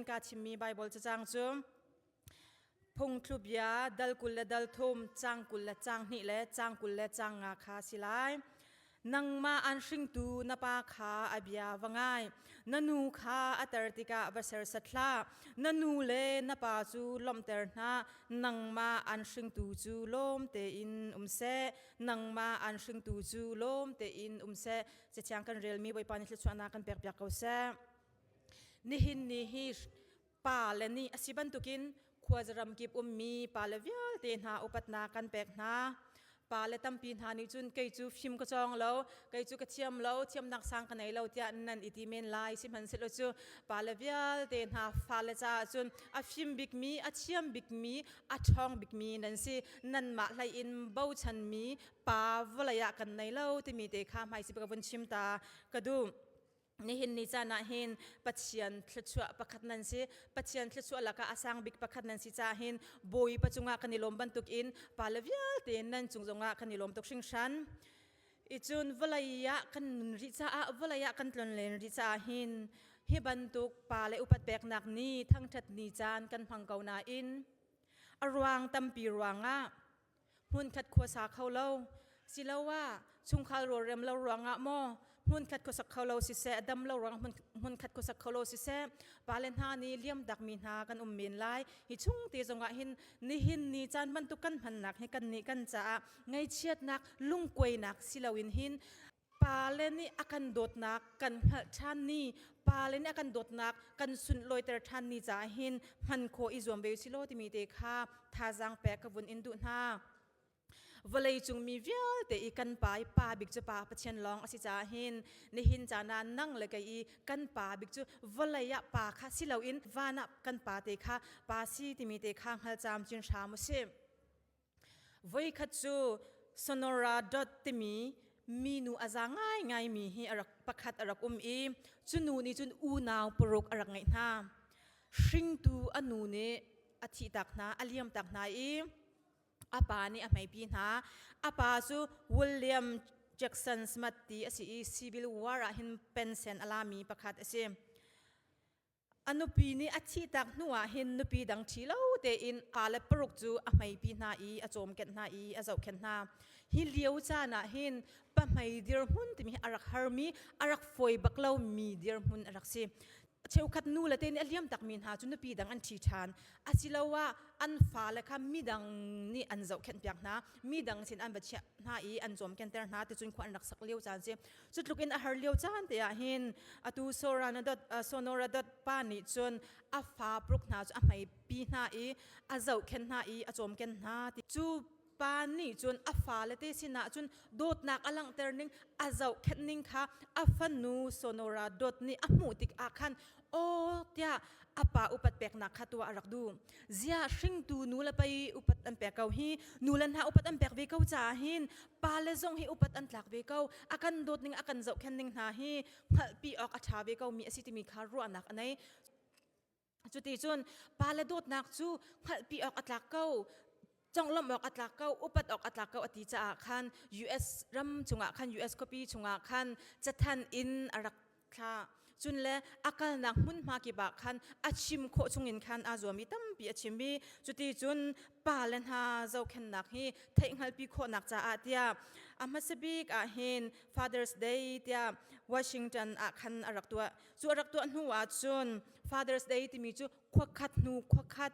kaa chimmi Baibal cacang cu phungthlubia dal kul le dal thum cang kul le cang hnih le cang kul le cang nga kha si lai nangmah an hringtu na pa kha a bia va ngai na nu kha a ter tikah va sersat hlah na nu le na pa cu lawmhter hna nangmah an hringtu cu lawm tein um seh nangmah an hringtu cu lawm tein um seh cathiang kan relmi bawipa ni thluchuahnak kan pek piak ko seh Nihin ni hi pale nih a si bantukin khuazaram kip ummi pale vialte hna upatnak kan pek hna. Pale tampi hna nih cun kei cu fim ka cawng lo, kei cu ka thiam lo, thiamnak sang ka nei lo tiah nan i ti men lai. Sihmanhsehlaw cu pale vialte hna fale caah cun a fim bikmi, a thiam bikmi, a ṭhawng bikmi nan si. Nanmah hlei in bochanmi pa vawlei ah kan nei lo timi te kha hmaisip ka vun chim ta ka duh. Nihin ni caan ah hin Pathian thluachuah pakhat nan si. Pathian thluachuah lakah a sang bik pakhat nan si caah hin Bawipa cungah kan i lawm bantuk in pa le vialte in nan cung zongah kan i lawm tuk hringhran. I cun vawlei ah kan nun rih caah vawlei ah kan tlon len rih caah hin hi bantuk pa le upat peknak ni thangṭhat ni caan kan hmang ko nain a ruang tampi ruangah hmunkhat khuasa kho lo siloah chungkhar rawlrem lo ruangah maw hmunkhat khuasak kho lo siseh dam lo ruang hmunkhat khuasak kho lo siseh pale hna nih liam dak mi hna kan um men lai hi chung te zongah hin nihin ni caan bantuk kan hmannak hi kan nih kan caah ngaichiatnak lungkuainak siloin hin pale nih a kan dawtnak kan hngalh ṭhan ni pale nih a kan dawtnak kan sunlawiter ṭhan ni caah hin hman khawh i zuam ve u silaw timi te kha thazaang pek ka vun in duh hna vawleicung mi vialte i kan pa i pa bik cu pa pathian lawng a si caah hin nihin cana nang le kei i kan pa bik cu vawlei ah pa kha si loin van ah kan pa te kha pa si timi te kha hngal cam cin hram u sih Voikhat cu Sonora Dot timi minu a za ngaingaimi hi a rak pakhat a rak um i cu nu nih cun unau paruk a rak ngeih hna. Hringtu a nu nih a thihtak hna, a liamtak hna i a pa nih a hmeipi hna. A pa cu William Jackson Smith ti a si i civil war ah hin pensen a lami pakhat a si. A nupi nih a thihtak hnu ah hin nupi dang ṭhi lo tein pa le paruk cu a hmeipi hna i a cawmkenh hna i a zohkhenh hna. Hi lio caan ah hin pahmei dirhmun timi hi a rak harmi, a rak fawi bak lomi dirhmun a rak si. Cheukhat nu le te nih a liam takmi hna cu nupi dang an ṭhi ṭhan. Asiloah an fale kha midang nih an zohkhenh piak hna. Midang sin an va chiah hna i an cawmkenter hna. Ticun khua an rak sak lio caan si. Cutluk in a har lio caan te ah hin atu Sonora dot pa nih cun a fa pruk hna cu a hmei pi hna i a zohkhen hna i a cawmken hna ti cu pa nih cun a fale te sinah cun dawtnak a langhter ning a zohkhenh ning kha a fanu Sonora Dot nih a hmuh tik ah khan aw tiah a pa upat peknak kha tua a rak du zia hringtu nu le pei upat an pek ko hi nu le hna upat an pek ve ko caah hin pale zong hi upat an tlak ve ko a kan dawt ning a kan zohkhen ning hna hi hngalhpi awk a ṭha ve ko mi a si timi kha ruahnak a nei cuti cun pale dawtnak cu hngalhpi awk a tlak ko conglawmh awk a tlak ko upat awk a tlak ko a ti caah khan US ram chungah khan US khuapi chungah khan cathan in a rak thla cun le a kalnak hmunhma kip ah khan a chim khawh chungin khan aa zuam i tampi a chim i cuti cun pa le hna zohkhennak hi theihhngalpi khawhnak caah tiah a hmasa bik ah hin Father's Day tiah Washington ah khan a rak tuah cu a rak tuah hnu ah cun Father's Day timi cu khua khat hnu khua khat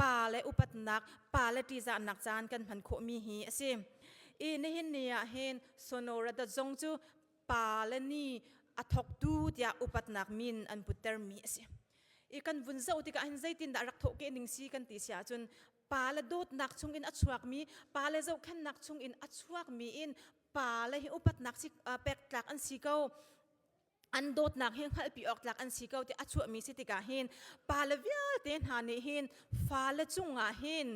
pa le upatnak pa le ṭihzahnak caan kan hman khawhmi hi a si i nihin ni ah hin sonora dot zong cu pa le ni a thawktu tiah upatnak min an puttermi a si i kan vun zoh tikah hin zeitindah rak thawhke ning si kan ti si ahcun pa le dawtnak chungin a chuakmi pa le zohkhennak chungin a chuakmi in pa le hi upatnak si pektlak an si ko an dawtnak hi hngalhpi awk tlak an si ko ti a chuahmi si tikah hin pa le vialte hna nih hin fale cungah hin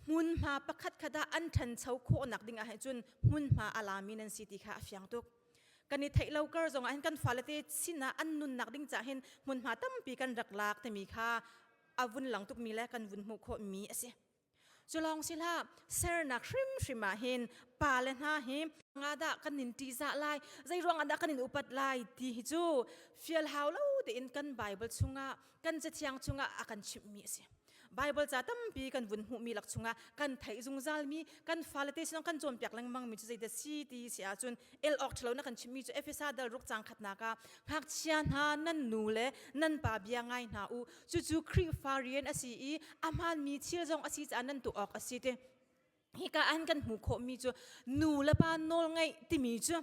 hmunhma pakhat khat ah an ṭhancho khawhnak dingah hin cun hmunhma a lami nan si ti kha a fiang tuk kan i theih lo kar zongah hin kan faalete sinah an nunnak ding cah hin hmunhma tampi kan rak lak timi kha a vun lang tukmi le kan vun hmuh khawhmi a si Culawng si hlah sernak hrimhrim ah hin pa le hna hi ngadah kan in tihzah lai zei ruangah dah kan in upat lai ti hi cu fial hau lo tein kan Bible chungah kan cathiang chungah a kan chimhmi a si Bible ca tampi kan vun hmuhmi lak chungah kan theih zungzal mi kan fale te sinong kan cawnpiak lengmang mi cu zeidah si ti si ahcun el awk ṭhalo na kan chimmi cu Efesa dal ruk cang khatnak ah ngakchia hna nan nu le nan pa bia ngai hna u Cucu Khrihfa rian a si i a hmaanmi thil zong a si caah nan tuah awk a si ti. Hika an kan hmuh khawhmi cu nu le pa nawl ngaih timi cu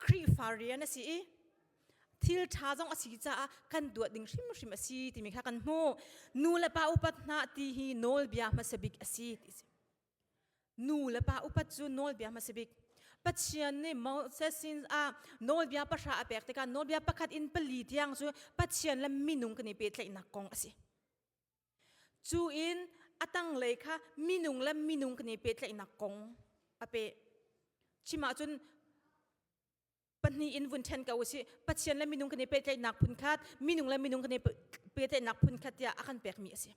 Khrihfa rian a si i thil ṭha zong a si caah kan duat ding hrimhrim a si timi kha kan hmuh. Nu le pa upat hna ti hi nawlbia hmasabik a si ti si. Nu le pa upat cu nawlbia hma si bik. Pathian nih Moses sin ah nawlbia pahra a pek tikah nawlbia pakhat in pali tiang cu Pathian le minung kan i pehtlaihnak kong a si. Cu in a tanglei kha minung le minung kan i pehtlaihnak kong a pe. Chim ahcun pahnih in vun ṭhen ko usih pathian le minung kan i pehtlaihnak phunkhat minung le minung kan i pehtlaihnak phunkhat tiah a kan pekmi a si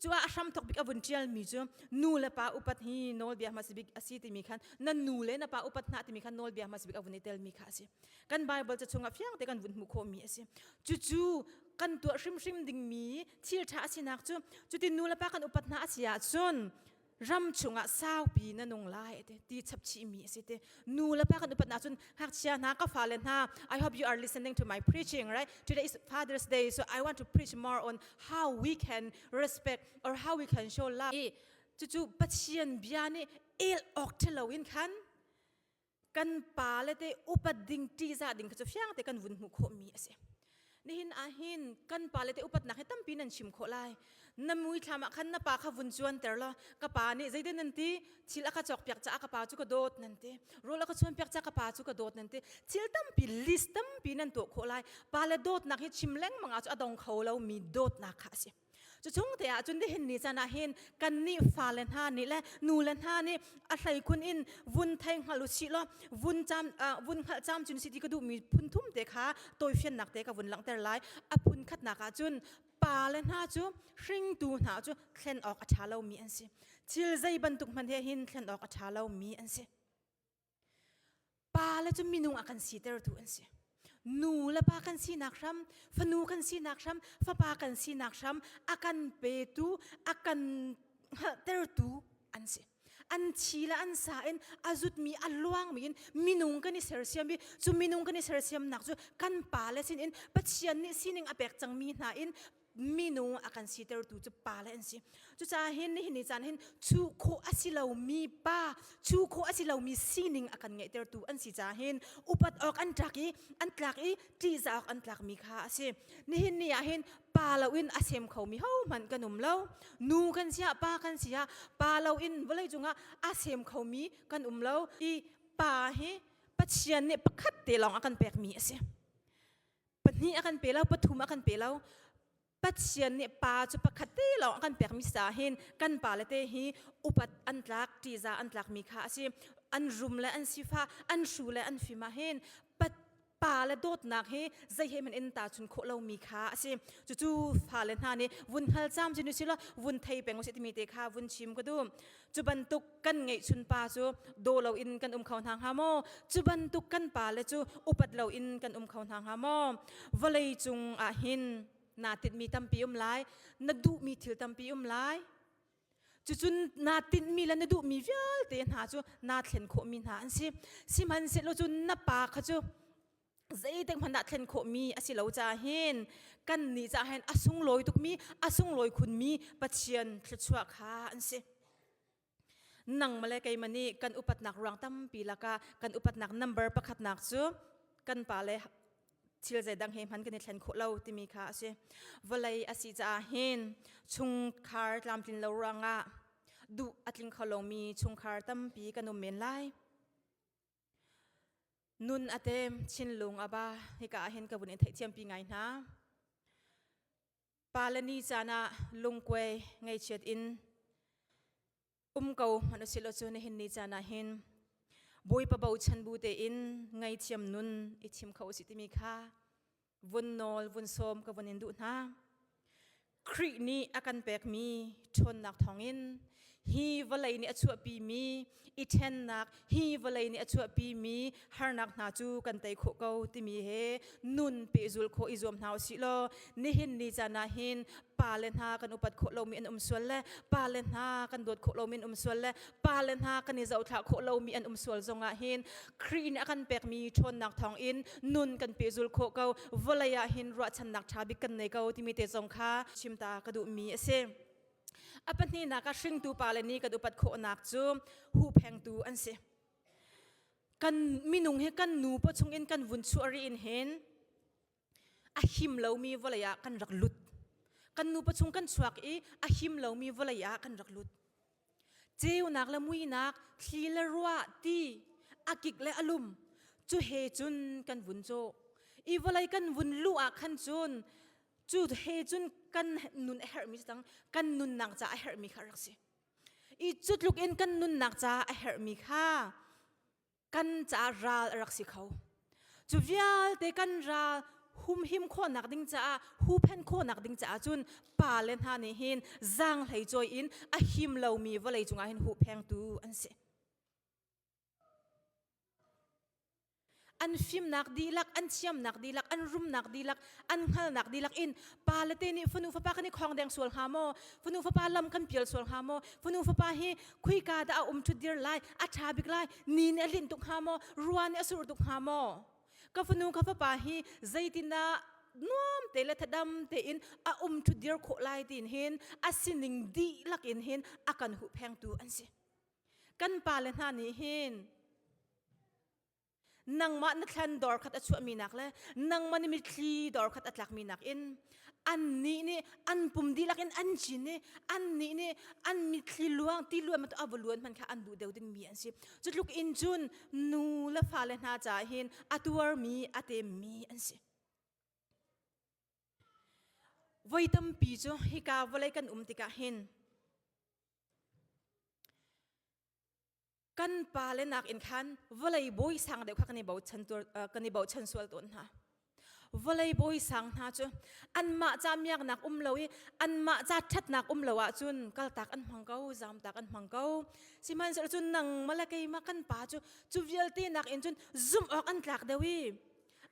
cuah a hram thok bik a vun ṭialmi cu nu le pa upat hi nawlbia hmasabik a si timi khan na nu le na pa upat hna timi khan nawlbia hmasabik a vun i telmi kha a si kan bible ca chungah fiang te kan vun hmuh khawhmi a si cucu kan tuah hrimhrim dingmi thil ṭha a sinak cu cutin nu le pa kan upat hna a si ahcun ram chungah saupi na nung lai te ti chapchi mi asi te nu le pa kan upat na cun ngakchia hna ka fa le hna i hope you are listening to my preaching right today is father's day so i want to preach more on how we can respect or how we can show love i cucu pathian bia nih el ok thelo in khan kan pa le te upat ding tihzah ding kha cu fiang te kan vun hmuh khawh mi a si nihin ahhin kan pa le te upatnak hi tampi nan chim khawh lai na mui thlam ah khan na pa kha vun chuan ter law ka pa nih zeiten nan ti thil aka chawk piak caah ka pa cu ka dawt nan ti rul aka chuan piak caah ka pa cu ka dawt nan ti thil tampi list tampi nan tuah khawh lai pa le dawtnak hi chim lengmang ah cu a dong kho lo mi dawtnak kha a si Cuchung te ah cun dihin ni can ah hin kan nih fa le hna nih le nu le hna nih a hlei khun in vun thei hngal u si law vun cham vun hngal cham cun si ti ka duh mi phun thum te kha toifiannak te ka vun langhter lai a phun khatnak ah cun pa le hna cu hringtu hna cu thlen awk a ṭha lo mi an si thil zei bantuk hmanh he hin thlen awk a ṭha lo mi an si Pa le cu minung a kan sitertu an si. Nu le pa kan sinak hram, fanu kan sinak hram, fapa kan sinak hram, a kan petu, a kan tertu an si. An thi le an sa in a zutmi a luangmi in minung kan i sersiam i cu minung kan i sersiamnak cu kan pa le sinin Pathian nih sining a pek cangmi hna in minung akan sitertu cu pa le an si cucaah hin nihin ni caan hin chu khawh asilo mi pa chu khawh asilo mi sining akan ngeihtertu an si caah hin upat awk an tlak i an tlak i ṭihzah awk an tlak mi kha asi nihin ni ah hin pa loin a sem kho mi hohmanh kan um lo nu kan si ah pa kan si ah pa loin vawlei cungah a sem kho mi kan um lo i pa hi Pathian nih pakhat te lawng a kan pek mi asi pahnih a kan pe lo pathum a kan pe lo pathian nih pa cu pakhat te lo a kan pekmi sa hin kan pa le te hi upat an tlak ṭiza an tlak mi kha a si an rum le an sifa an hru le an fim ah hin pa le dawtnak hi zei he man in ta chun khawh lo mi kha a si cucu fa le hna nih vun hal cham chin u sila vun thei peng u si timi te kha vun chim ka duh cu bantuk kan ngeihchun pa cu do lo in kan um kho hna hnga maw cu bantuk kan pa le cu upat lo in kan um kho hna hnga maw vawlei cung ah hin naa tinhmi tampi um lai na duhmi thil tampi um lai cucun naa tinhmi le na duhmi vialte hna cu naa thlen khawhmi hna an si sihmanhsehlaw cun na pa kha cu zeitik hmanh dah thlen khawhmi a si lo ca hin kan nih ca hin a sunglawi tukmi a sunglawi khunmi Pathian thluachuah kha an si nang male keimani kan upatnak ruang tampi laka kan upatnak number pakhatnak cu kan pa le thil zeidang he hman kan i thlen khawh lo timi kha a si vawlei a si caah hin chungkhar tlamtlin lo ruangah duh a tling kho lomi chungkhar tampi kan um men lai Nun a tem chinlung a ba hika ahhin ka vun in theih thiampi ngai hna. Pa le ni caan ah lungkuai ngeichiat in um ko an u silo cu nihin ni caan ah hin bawi pabo chan bu te in ngai thiam nun i thim kho u si timi kha vun nawl vun sawm ka vun in duh hna Khrih nih a kan pekmi ṭhawnnak thawngin hi vawlei nih a chuahpi mi i ṭhennak hi vawlei nih a chuahpi mi harnak hna cu kan tei khawh ko timi he nun pehzul khawh i zuam hna u sih law nihin ni can ah hin pa le hna kan upat khawh lomi an um sual le pa le hna kan dawt khawh lomi an um sual le pa le hna kan i zohthlah khawh lomi an um sual zongah hin Khrih nih a kan pekmi ṭhawnnak thawng in nun kan pe zul khawh ko vawlei ah hin ruahchannak ṭha bik kan nei ko timi te zong kha chimta ka duhmi a si a pahnihnak a hringtu pa le nih kan upat khawhnak cu huphengtu an si kan minung hi kan nu pa chungin kan vun chuah ri in hin a him lomi vawlei ah kan rak lut. Kan nupa chung kan chuak i a him lomi vawlei ah kan rak lut. Ceunak le muinak, thli le ruah, ti, a kik le a lum, cu he cun kan vun cu. I vawlei kan vun luh ah khan cun, cu he cun kan nun a herhmi si cang, kan nunnak ca a herhmi kha rak si. I cutluk in kan nunnak ca a herhmi kha kan caah ral a rak si kho cu vialte kan ral humhim khawnak ding caah hupen khawnak ding caah cun pa le hna nih hin zang hlei choi in a him lomi vawlei cungah hin huphengtu an si an fimnak dihlak an thiamnak dihlak an rumnak dihlak an hngalnak dihlak in pa le te nih fanu fapa kan i khawng deng sual hnga maw fanu fapa lam kan pial sual hnga maw fanu fapa hi khuika dah a um ṭhut dir lai a ṭha bik lai ni nih a hlin tuk hnga maw ruan nih a sur tuk hnga maw ka fanu ka fapa hi zeitindah nuam te le thadam tein a um ṭhut dir khawh lai tin hin a sining dihlak in hin a kan hu phengtu an si kan pa le hna nih hin nangmah na thlan dor khat a chuahmi nak le nangmah na mitthli dor khat a tlakmi nak in an nih nih an pum dihlak in an cin i an nih nih an mitthli luang ti luan mata ava luan man kha an duh deuh dingmi an si cu tluk in cun nu le fa le hna ca hin a tuarmi a temmi an si voi tampi cu hika vawlei kan um tikah hin kan pa le nak in khan vawlei bawi sang deuh kha kan i bochan kan i bochan sual tawn hna vawlei bawi sang hna cu anmah ca miaknak um lo i anmah ca ṭhatnak um lo ahcun kaltak an hmang ko zamtak an hmang ko sihmanhsehlaw cun nang male keimah kan pa cu cu vialte nak in cun zumh awk an tlak deuh i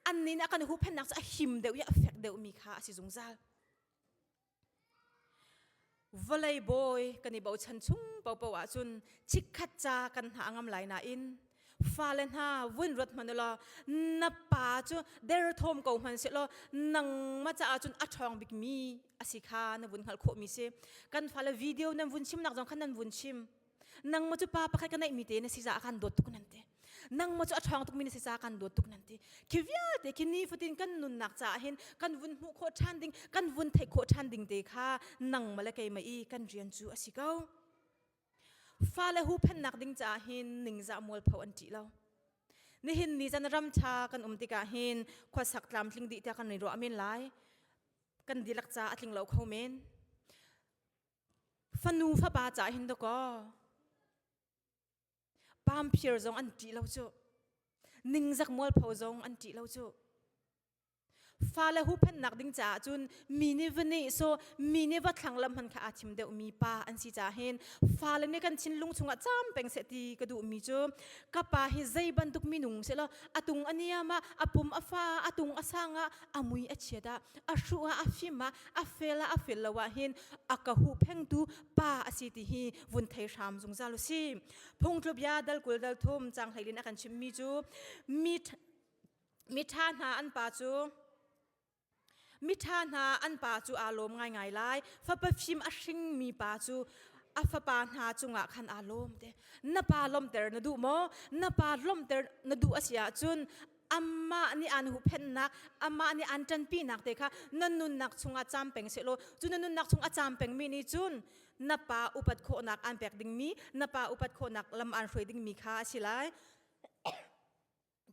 annin a kan huhphennak cu a him deuh i a fek deuhmi kha a si zungzal vawlei bawi kan i bochan chung popo ahcun chikkhat ca kan hna ngam lai nain fale hna vun ruat hmanh ulaw na pa cu derthawm ko hman se law nangma caah cun a ṭhawng bikmi a si kha na vun hngalh khawhmi si kan fale video nan vun chim nak zong khan nan vun chim nang maw cu pa pakhat ka neihmi te na si caah kan dawt tuk nan ti nang maw cu a ṭhawng tukmi na si caah kan dawt tuk nan ti khi vialte khi nifatin kan nunnak caah hin kan vun hmuh khawh ṭhan ding kan vun theih khawh ṭhan ding te kha nang maw le keimah i kan rian cu a si ko fale huhphennak ding caah hin ningzah mualpho an ṭih lo nihin ni zan ram ṭha kan um tikah hin khuasak tlamtling dih tiah kan i ruah men lai kan dilak ca a tling lo kho men Fanu fapa ca hin dakaw. Pamphiar zong an ṭih lo cu. Ningzak mualpho zong an ṭih lo cu. Fale huhphennak ding caah cun mi nih va nehsaw, mi nih va thlanglamh hman kha aa thim deuh mi pa an si caah hin fale nih kan thinlung chungah cam peng seh ti ka duhmi cu ka pa hi zei bantuk minung selaw a tung a niam ah a pum a fa a tung a sang ah a mui a chiat ah a hruh ah a fim ah a fel a a fel lo ah hin a ka hu phengtu pa a si ti hi vun thei hram zungzal u si phungtlubia dalkul dalthum cang hleilin a kan chimmi cu mi miṭha hna an pa cu miṭha hna an pa cu aa lawm ngaingai lai fapa fim a hringmi pa cu a fapa hna cungah khan aa lawm te na pa lawmhter na duh maw na pa lawmhter na duh a si ahcun amah nih aan huhphenhnak amah nih aan ṭanpinak te kha na nunnak chungah cam peng sehlaw cu na nunnak chung a cam pengmi nih cun na pa upat khawhnak aan pek dingmi na pa upat khawhnak lam aan hruai dingmi kha a si lai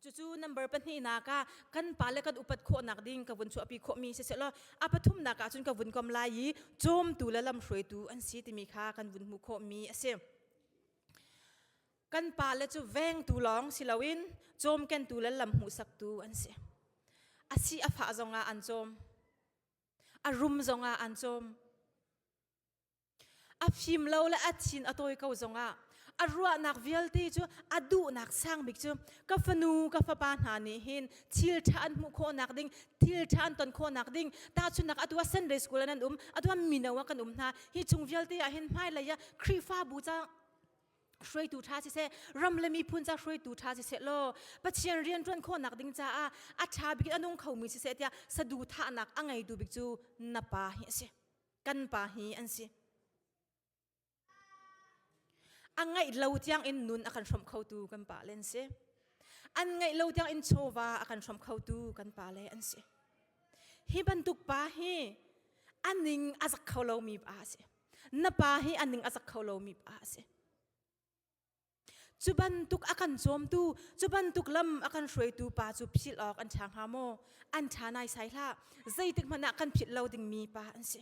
cucu number pahnihnak ah kan pa le kan upat khawhnak ding ka vun chuahpi khawhmi si selaw a pathumnak ah cun ka vun kom lai i cawmtu le lamhruaitu an si timi kha kan vun hmuh khawhmi a si kan pa le cu vengtu lawng si loin cawmkentu le lam hmuhsaktu an si asi a fah zongah an cawm a rum zongah an cawm a fim lo le a thin a tawi ko zongah a ruahnak vialte cu a duhnak sang bik cu ka fanu ka fapa hna nih hin thil ṭha an hmuh khawhnak ding thil ṭha an ton khawhnak ding tahchunnak atu a Sunday school an um atu a mino ah kan um hna hi chung vialte ah hin hmailei ah Khrihfabu ca hruaitu ṭha siseh ram le miphun ca hruaitu ṭha siseh law pathian rian ṭuan khawhnak ding caah a ṭha bik in a nung khomi siseh tiah saduhthahnak a ngeitu bik cu na pa hi a si kan pa hi an si a ngaih lo tiang in nun a kan hrawm khotu kan pa le an si an ngaih lo tiang in chawva a kan hrawm khotu kan pa le an si hi bantuk pa hi a ning a zak kho lomi pa a si na pa hi a ning a zak kho lomi pa a si cu bantuk a kan cawmtu cu bantuk lam a kan hruaitu pa cu philh awk an ṭha hnga maw an ṭha nai sai hlah zeitik hmanh ah kan philh lo dingmi pa an si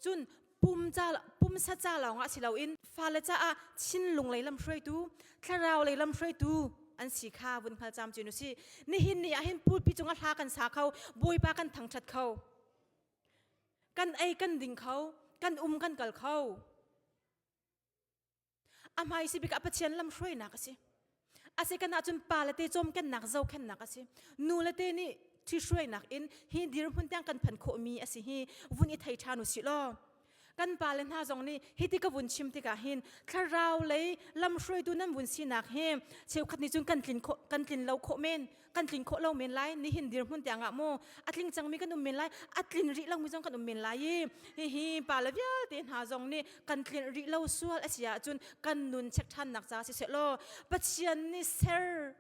cun pum ca pumsa ca lawng ah si loin fale caah thinlung lei lam hruaitu thlarau lei lam hruaitu an si kha vun hngal cam cinu si nihin ni ahhin pulpi cungah hla kan sa kho bawipa kan thangṭhat kho Kan ei kan ding kho, kan um kan kal kho. A hmai si bik ah Pathian lam hruainak a si. A si kan ahcun pa le te cawmkennak zohkennak a si. Nu le te nih thi hruainak in hi dirhmun tiang kan phan khawhmi a si hi vun i thei ṭhan u sih law. kan pa le hna zong nih hiti ka vun chim tikah hin thlarau lei lamhruaitu nan vun sinak hi cheukhat nih cun kan tlin khawh kan tlin lo khawh men kan tlin khawh lo men lai nihin dirhmun tiangah mu a tling cangmi kan um men lai a tlin rih lomi zong kan um men lai i hihi pa le vialte hna zong nih kan tlin rih lo sual a si ahcun kan nun check ṭhannak ca siseh law Pathian nih ser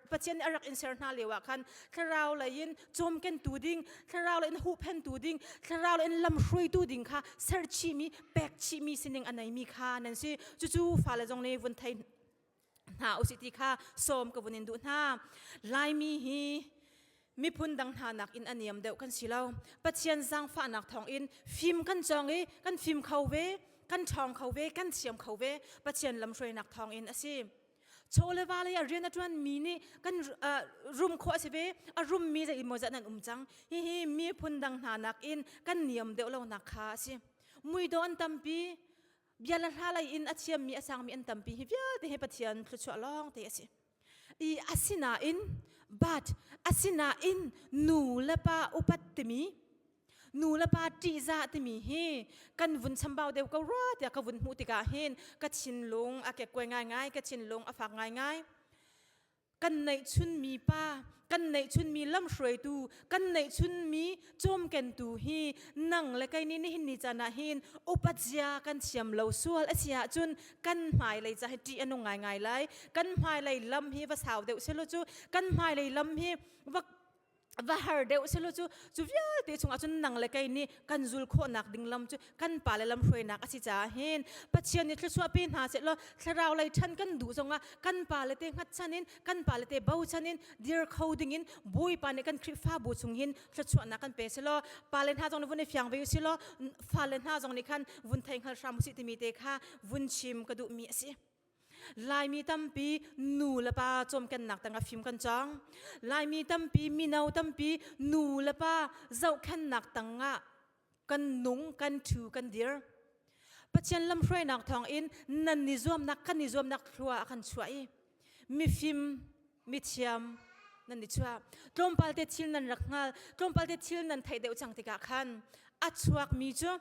Pathian a rak in ser hna lio ah khan thlarau lei in cawmkentu ding thlarau lei in huhphentu ding thlarau lei in lamhruaitu ding kha serchihmi pekchihmi sining a neimi kha nan si cucu fale zong nih vun thei hna usih ti kha sawm ka vun in duh hna laimi hi miphun dang hna nak in a niam deuh kan si lo pathian zangfahnak thawng in fim kan cong i kan fim kho ve kan ṭhawng kho ve kan siam kho ve pathian lamhruainak thawng in a si chole vale a rian a tuan mi nih kan rum kho a si ve a rum mi zei maw zat nan um cang hi hi mi phun dang hna nak in kan niam deuh lo nak kha a si mui don tampi bia la hla lei in a thiam mi a sang mi an tampi hi vialte he pathian thlu chuah long te a si i asinain but asinain nu le pa upat timi nu le pa ṭihzah timi hi kan vun chambau deuh ko rua tiah ka vun hmuh tikah hin ka thinlung a kekkuai ngaingai ka thinlung a fak ngaingai kan neihchunmi pa kan neihchunmi lamhruaitu kan neihchunmi cawmkentu hi nang le kei nih nihin ni can ah hin upatzia kan thiam lo sual a si ahcun kan hmailei ca hi ṭih a nung ngaingai lai kan hmailei lam hi va sau deuh selaw cu kan hmailei lam hi va va har deuh se lo cu cu vialte chungah cun nang le kei nih kan zul khawhnak ding lam cu kan pa le lam hruainak a si caah hin pathian nih thlusuahpi hna seh law thlarau lei ṭhan kan duh zongah kan pa le te hngatchan in kan pa le te bochan in dir kho ding in bawipa nih kan khrihfabu chung hin thluachuahnak kan pe selaw pa le hna zong nih vun i fiang ve u selaw fa le hna zong nih khan vun thei hngal hram usih timi te kha vun chim ka duhmi a si Laimi tampi nu le pa cawmkennak tang a fim kan cang. Laimi tampi mino tampi nu le pa zohkhennak tang ah kan nung, kan thu, kan dir. Pathian lamhruainak thawng in nan ni zuamnak kan ni zuamnak hlua a kan chuah i mifim, mithiam nan ni chuah. Tlawmpal te thil nan rak hngal, tlawmpal te thil nan theih deuh cang tikah khan a chuakmi cu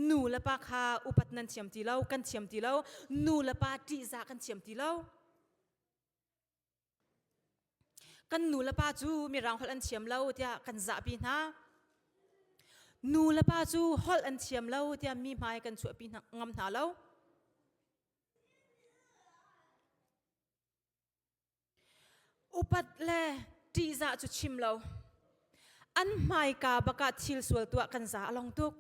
nu le pa kha upat nan thiam ti lo kan thiam ti lo nu le pa ṭihzah kan thiam ti lo kan nu le pa cu mirang holh an thiam lo tiah kan zahpi hna nu le pa cu holh an thiam lo tiah mi hmai kan chuahpi ngam hna lo Upat le ṭihzah cu chim lo. An hmaika bakah thil sual tuah kan za a long tuk.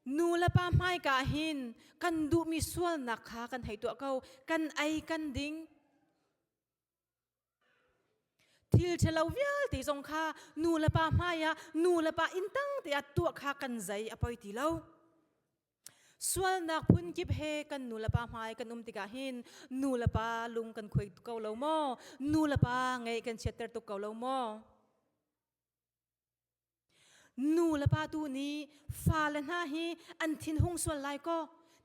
Nu le pa hmaika hin kan duhmi sualnak kha kan hei tuah ko. Kan ei kan ding. Thil ṭhalo vialte zong kha nu le pa hmai ah nu le pa inn tang te ah tuah kha kan zei a poi ti lo. sualnak phun kip he kan nu le pa hmai kan um tikah hin nu le pa lung kan khuai tuk ko lo maw nu le pa ngei kan chiatter tuk ko lo maw nu le pa tu nih fale hna hi an thin hung sual lai kaw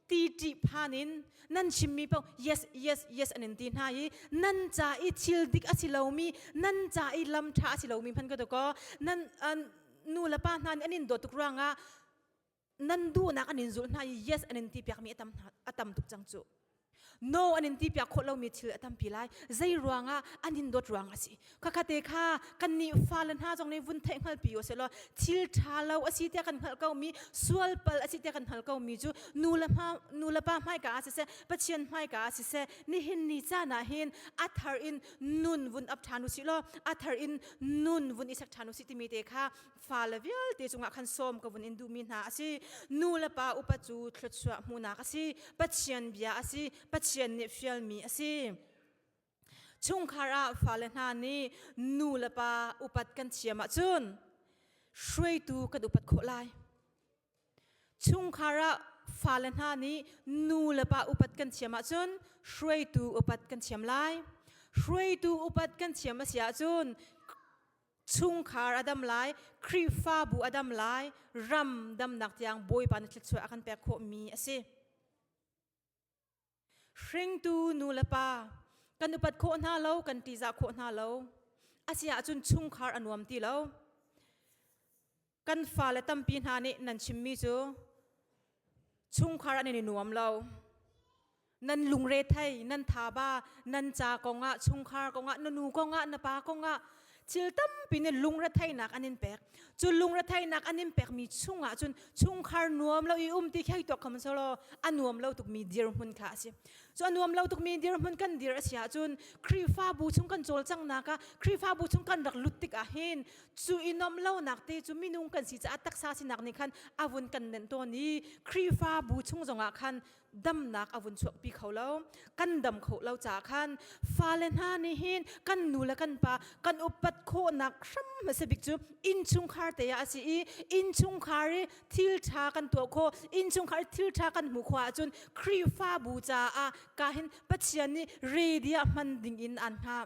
ti ṭi phan in nan chimmi paoh yes yes yes an in ti hna i nan ca i thil dik a si lomi nan ca i lam ṭha a si lomi hman ka to ko nan nu le pa hna nih an in dawt tuk ruangah nan duhnak an in zulh hna i yes an in ti piakmi a tam a tam tuk cang cu no an in ti piak khawh lomi thil a tampi lai zei ruangah an in dawt ruang a si khakhate kha kan nih fale hna zong nih vun theih hngalpi o selaw thil ṭha lo a si tiah kan hngalh komi sualpal a si tiah kan hngalh komi cu nu le nu le pa hmaika ah siseh pathian hmaika ah siseh nihin ni caan ah hin a thar in nun vun ap ṭhan u si law a thar in nun vun i sak ṭhan u si timi te kha fale vialte cungah khan sawm ka vun in duhmi hna a si nu le pa upa cu thluachuah hmunak a si pathian bia a si pathian nih fialmi a si chungkhar ah fale hna nih nu le pa upat kan thiam ahcun hruaitu kan upat khawh lai chungkhar ah fale hna nih nu le pa upat kan thiam ahcun hruaitu upat kan thiam lai hruaitu upat kan thiam a si ahcun chungkhar a dam lai Khrihfabu a dam lai ram damnak tiang Bawipa na thluachuah a kan pek khawhmi a si hringtu nu le pa kan upat khawh hna lo kan tizah khawh hna lo a si ahcun chungkhar a nuam ti lo kan fale tampi hna nih nan chimmi cu chungkhar an i nuam lo nan lungre thei nan thaba nan ca kongah chungkhar kongah na nu kongah na pa kongah thil tampi nih lungretheihnak an in pek cu lungretheihnak an in pekmi chungah cun chungkhar nuam lo i um ti khei tuak kham solo a nuam lo tukmi dirhmun kha a si cu a nuam lo tukmi dirhmun kan dir a si ahcun khrihfabu chung kan cawlcanghnak ah khrihfabu chung kan rak lut tik ahhin cu i nom lonak te cu minung kan si caah taksa sinak nih khan a vun kan nenh tawn i Khrihfabu chung zongah khan damnak a vun chuakpi kho lo kan dam kho lo caah khan fale hna nih hin kan nu le kan pa kan upat khawhnak hram hmasa bik cu innchungkhar te ah a si i innchungkhar i thilṭha kan tuah kho innchungkhar i thilṭha kan hmuh khawh ahcun Khrihfabu caah ka hin Pathian nih ready ah hman ding in aan hngah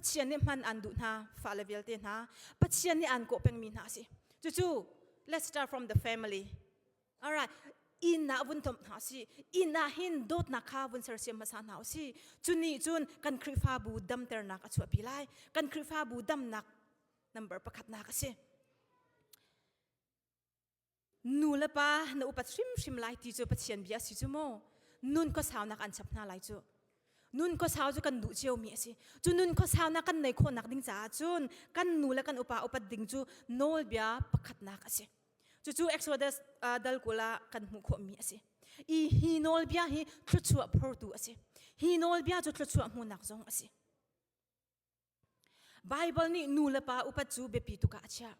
Pathian nih hman aan duh hna fale vialte hna Pathian nih aan kawh pengmi hna a si cucu let's start from the family all right innah vun thomh hna si innah hin dawtnak kha vun sersiam hmasa hna u si cu ni cun kan Khrihfabu damternak a chuahpi lai kan Khrihfabu damnak number pakhatnak a si Nulepa na upat hrimhrim lai ti cu Pathian bia a si cu maw? Nun khuasaunak an chap hna lai cu. Nun khuasau cu kan duh cio mi a si. Cu nun khuasaunak kan nei khawhnak ding caah cun kan nu le kan upa upat ding cu nawlbia pakhatnak a si. Cucu Exodus uh, dal kul ah kan hmuh khawh mi a si. I hi nawlbia hi thluachuah phortu a si. Hi nawlbia cu thluachuah hmuhnak zong a si. Bible nih nu le pa upat cu biapi tuk ah a chiah.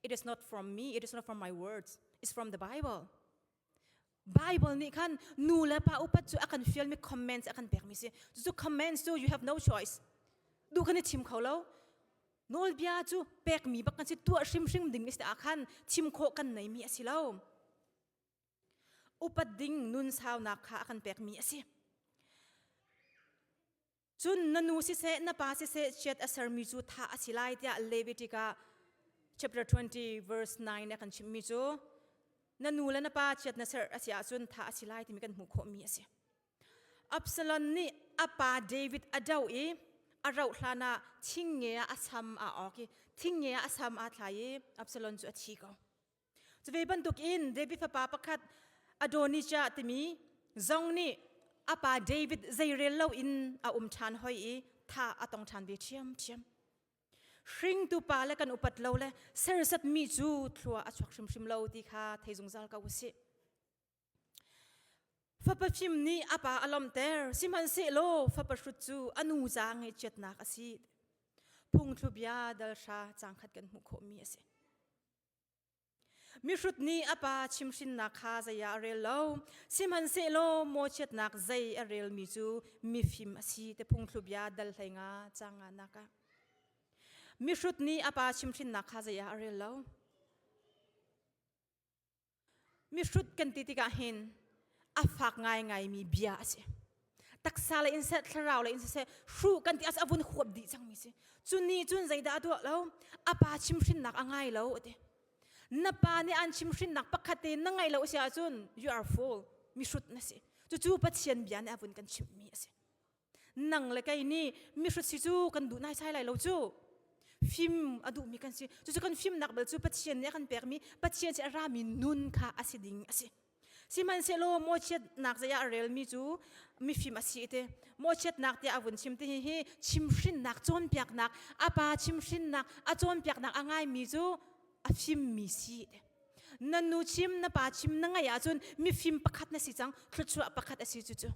It is not from me, it is not from my words, it's from the Bible. Bible nih khan nu le pa upat cu a kan fialmi comments a kan pekmi si. Cucu comments cu you have no choice. Du kan i thim kho lo. Nawlbia cu pekmi bak kan si tuah hrimhrim ding is ah khan thim khawh kan neimi a si lo. Upat ding nun saunak kha a kan pekmi a si. cun na nu siseh na pa siseh chiat a sermi cu tha a si lai tiah Levitic ah chapter 20 verse 9 a kan chimmi cu na nu le na pa chiat na ser a si ahcun tha a si lai timi kan hmuh khawhmi a si. Absalom nih a pa David a do i a rauh hlan ah thingnge ah a sam aa awk i thingnge ah a sam aa thlai i Absalom cu a thi ko. Cu ve bantukin David fapa pakhat Adonijah timi zong nih a pa David zeirel loin a um ṭhan hoi i tha a tong ṭhan ve ṭhiamṭhiam. Hringtu pa le kan upat lo le sersatmi cu thlua a chuak hrimhrim lo ti kha thei zungzal ko u sih. Fapa fim nih a pa a lomter sihmanhsehlaw fapa hrut cu a nu ca ngaihchiatnak a si. Phungthlu bia dal hra cangkhat kan hmuh khawhmi a si. mihrut nih a pa chimhrinnak kha zei ah a rel lo sihmanhsehlaw mawchiatnak zei a relmi cu mifim a si te phungthlubia dal hlei nga cang nga nak ah mihrut nih a pa chimhrinnak kha zei ah a rel lo mihrut kan ti tikah hin a fak ngaingaimi bia a si taksa le inseh thlarau le inseh hru kan ti as avun khuap di chang mi si chu ni chun zaida adu lo apa chim hrin nak angai lo ati na pa ni an chim hrin nak pakhat te na ngai lo sia chun you are fool mi hrut na si chu chu pathian bia ne avun kan chim mi asi nang le kai ni mi hrut si chu kan du nai sai lai lo chu fim adu mi kan si chu chu kan fim nak bel chu pathian ne kan pek mi pathian se ra mi nun kha asi ding asi Sihmanhsehlaw mawchiatnak zei ah a relmi cu mifim a si te. Mawchiatnak tiah a vun chim ti hi chimhrinnak cawnpiaknak a pa chimhrinnak a cawnpiaknak a ngaimi cu a fimmi si na nu chim na pa chim na ngaih ahcun mifim pakhat na si cang thluachuah pakhat a si cucu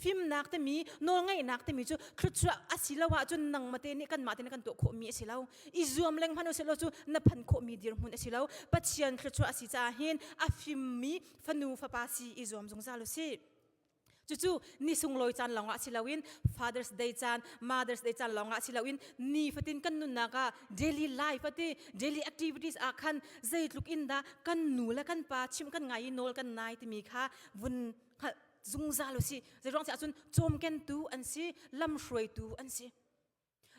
Fimnak timi nawlngeihnak timi cu thluachuah a si lo ahcun nang mate nih kanmah te nih kan tuah khawhmi a si lo. I zuam leng hmanh usihlaw cu na phan khawhmi dirhmun a si lo. Pathian thluachuah a si caah hin a fimmi fanu fapa si i zuam zungzal usih. Cucu ni sunglawi caan lawngah si loin Father's Day caan, Mother's Day caan lawngah si loin nifatin kan nunnak ah daily life ati daily activities ah khan zeitluk in dah kan nu le kan pa chim kan ngai i nawl kan nai timi kha vun zungzal si zeiruang si ahcun cawmkentu an si lamhruaitu an si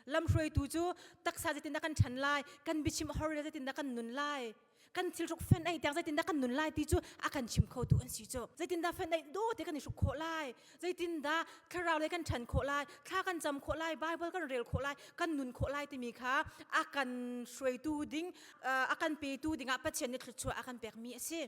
lamhruaitu cu taksa zeitindah kan ṭhan lai kan bichim a hor zeitindah kan nun lai kan thilhruk fen ei tiang zeitindah kan nun lai ti cu a kan chim khotu an si cu zeitindah fen ei do te kan i hruk khawh lai zeitindah thlarau lei kan ṭhan khawh lai thla kan cam khawh lai bible kan rel khawh lai kan nun khawh lai timi kha a kan hruaitu ding a kan petu dingah pathian nih thluachuah a kan pekmi a si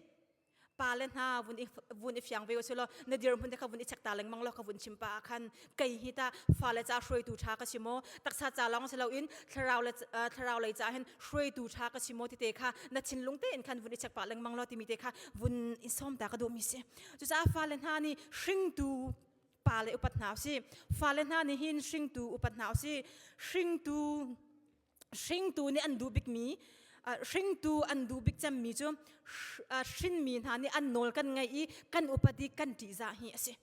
pa le hna vun i vun i fiang ve u sih law na dirhmun te kha vun i check ta lengmang law ka vun chim pa ah khan kei hi ta fa le ca hruaitu ṭha ka si maw taksa ca lawng si loin thlarau le thlarau lei ca hin hruaitu ṭha ka si maw tete kha na thinlung tein khan vun i check pa lengmang law timi te kha vun i som ta ka duh mi si cucaah fa le hna nih hringtu pa le upat hna u si fa le hna nih hin hringtu upat hna u si hringtu hringtu nih an duh bikmi hringtu an duh bik cemmi cu hrinmi hna nih an nawl kan ngaih i kan upadi kan ṭihzah hi a si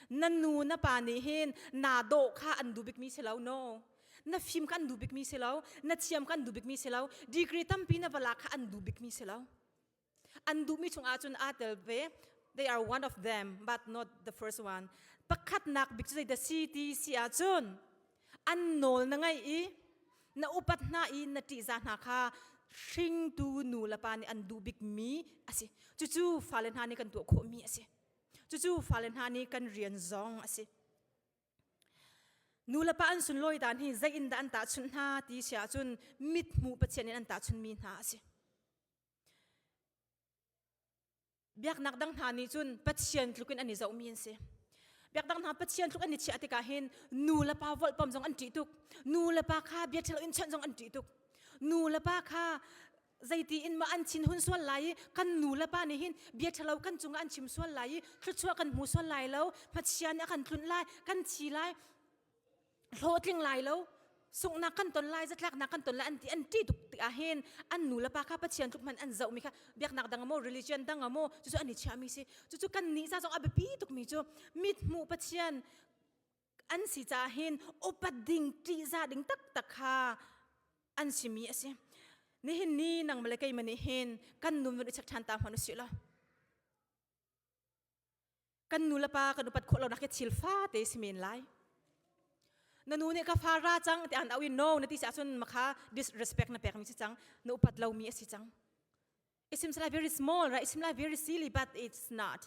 na nu na pa nih hin na dawh kha an duh bikmi si lo no na fim kha an duh bikmi si lo na thiam kha an duh bikmi si lo degree tampi na valak kha an duh bikmi si lo an duhmi chungah cun aa tel ve they are one of them but not the first one pakhatnak bik cu zeidah si ti si ahcun an nawl na ngaih i na upat hna i na ṭihza hna kha hringtu nu le pa nih an duh bikmi a si cucu fale hna nih kan tuah khawhmi a si cucu fale hna nih kan rian zong a si nu le pa an sunlawi dan hi zei in dah an tahchunh hna ti si ahcun mithmuh pathian in an tahchunmi hna a si biaknak dang hna nih cun pathian tluk in an i zohmi an si biakdang hna pathian tluk an i chiah tikah hin nu le pa volhpam zong an ṭih tuk nu le pa kha bia ṭhalo in chawnh zong an ṭih tuk nu le pa kha zeiti in mah an chin hun sual lai i kan nu le pa nih hin bia ṭhalo kan cungah an chim sual lai i thluachuah kan hmu sual lai lo pathian nih a kan tlunh lai kan thi lai hlawtling lai lo sunghnak kan ton lai zatlaknak kan ton lai an ti an ti tuk ti ahin an nu le pa kha pathian tluk man an zoh mi kha biaknak dang amo religion dang amo cucu an i chia mi si cucu kan ni sa zong a biapi tuk mi cu mit hmu pathian an si ca hin upat ding ti za ding tak tak kha an si mi asi nihin ni nang male kei mani hin kan nun i chak than ta hman u si lo kan nu le pa kan upat khawh lo nak hi thil fa te si men lai na nu nih ka fa ra cang te an au in no na ti sa sun makha disrespect na pek mi si cang na upat lo mi asi cang it seems like very small right it seems like very silly but it's not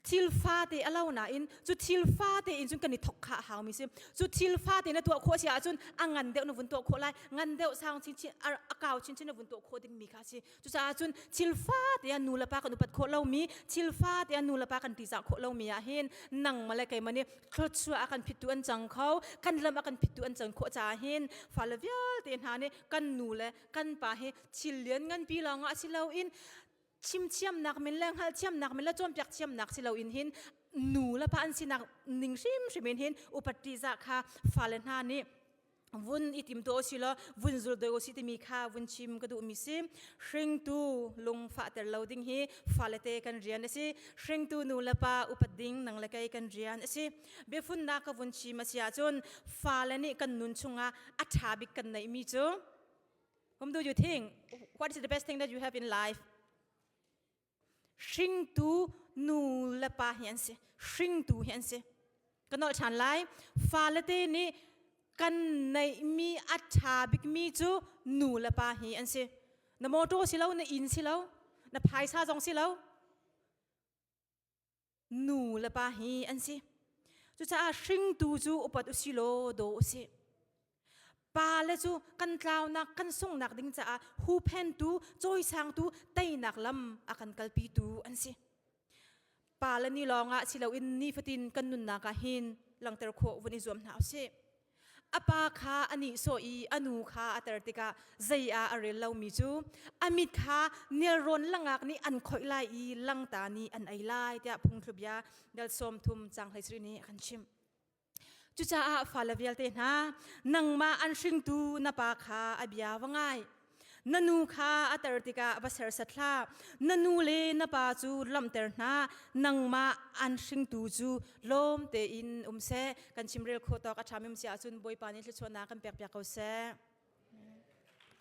thil fa te alo na in chu thil fa te in chun kan i thok kha hau mi si chu thil fa te na tuah kho sia chun angan deuh nu vun to kho lai ngan deuh sang chin chin akau chin chin na vun to kho ding mi kha si Cucaah cun thilfa teah nu le pa kan upat khawh lomi thilfa teah nu le pa kan tizah khawh lomi ah hin nang male keimah nih thluachuah a kan phittu an cang kho kan lam a kan phittu an cang khawh caah hin fale vialte hna nih kan nu le kan pa hi thil lian nganpi lawng ah si loin chimthiamnak min le hngalhthiamnak min le cawnpiak thiamnak si loin hin nu le pa an sinak ning hrimhrim in hin upatti za kha fale hna nih vun i tim to si lo vun zul doi osi timi kha vun chim ka duh mi si hringtu lung fa ter lo ding hi fale te kan rian asi hringtu nu le pa upat ding nang le kei kan rian asi biafun na ka vun chim asia chun fale nih kan nun chunga atha bik kan nei mi chu whom do you think what is the best thing that you have in life hringtu nu le pa hi an si hringtu hi an si ka nolh ṭhan lai falete nih kan neihmi a ṭha bikmi cu nu le pa hi an si na mawṭaw si lo na inn si lo na phaisa zong si lo nu le pa hi an si cucaah hringtu cu upat u si law daw u si pa le cu kan tlaunak kan sungnak ding caah huphentu cawisangtu teinak lam a kan kalpitu an si pa le ni lawngah si loin nifatin kan nunnak ah hin langter khawh vun i zuam hna u sih A pa kha a nihsawh i a nu kha a ter tikah zei ah a rel lomi cu a mit kha nelrawn langak nih an khoih lai i langta nih an ei lai tiah phungthlubia dal sawm thum cang hleisri nih a kan chimh. Cucaah fale vialte hna nangmah an hringtu na pa kha a bia va ngai. na nu kha a ter tikah va sersat hlah na nu le na pa cu lamter hna nangmah an hringtu cu lawm tein um se kan chimrel kho tawk a ṭhamim si ahcun bawipa nih thluachuahnak kan pek piak ko seh